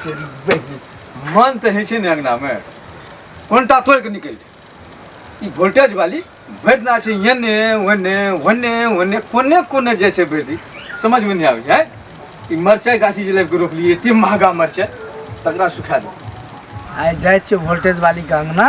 तेरी बहिनी मन तऽ होइ छै ने अङ्गनामे कोनटा तोड़ि कऽ निकलि जाय ई वोल्टेज वाली भरि दिना छै एन्ने ओन्ने ओन्ने ओन्ने कोने कोने जाइ छै भरि दिन समझमे नहि आबै छै आँय? ई मरचाइ गाछी जे लाबि कऽ रोपलियै एतेक महगा मरचाइ तकरा सुखा दे आइ जाइ छियै वोल्टेज वाली के अंगना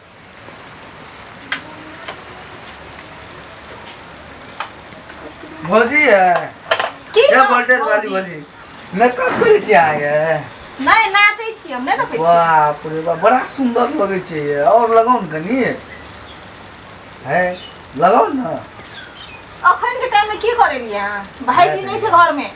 भौजी है की ये वोल्टेज वाली भौजी मेकअप करे छी आय है नहीं नाचै छी हम नहीं देखै छी बाप रे बाप बड़ा सुंदर लगे छै ये और लगाओ न कनी है लगाओ ना अखन के टाइम में की करेलिए अहाँ भाईजी नहीं छै घर में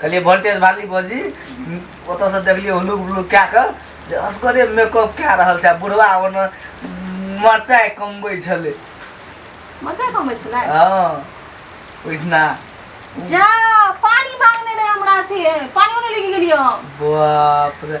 कहलियै वोल्टेज वाली बजी ओतऽसँ देखलियै हुलुक बुलुक कए कऽ जे असगरे मेकअप कए रहल छै बुढ़वा ओना मरचाइ कमबै छलै मरचाइ कमबै छलै हँ ओहिठिना जा पानी मांगने रहे हमरा से पानी ओने लेके गेलियो बाप रे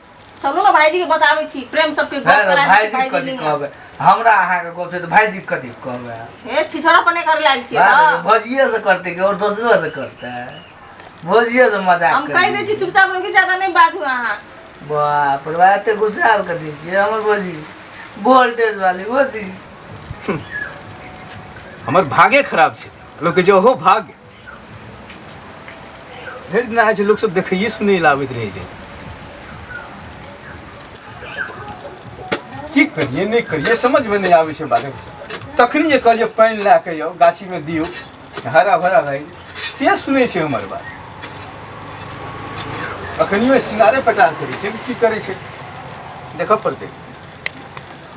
चलू ने भाईजी के बताबै छी प्रेम सबके गप है करा दै छी भाईजी कथी भाईजी के कहबै हमरा अहाँके गप छै तऽ भाईजी कथी कहबै हे छिछड़ा पने कर लायल छी बात है, भोजिये से करते कि और दोसरो से करते है भोजिये से मजाक हम कहि दै छी चुपचाप रही ज्यादा नहि बाजू अहाँ बाप रे बाप, एते गुस्साल कर दै छियै हमर भोजी वोल्टेज वाली भोजी हमर भागे खराब छै लोक कहै छै ओहो भाग्य भेट दिना होइ छै लोकसभ देखैए सुनै लए आबैत रहै छै की करिए नहि करिए समझमे नहि आबै छै बात तखनी जे कहलिए पानि लए कऽ यौ गाछीमे दियौ हरा भरा भए के सुनै छै हमर बात अखनियो सिंगारे पटार करै छै कि की करै छै देखऽ पड़तै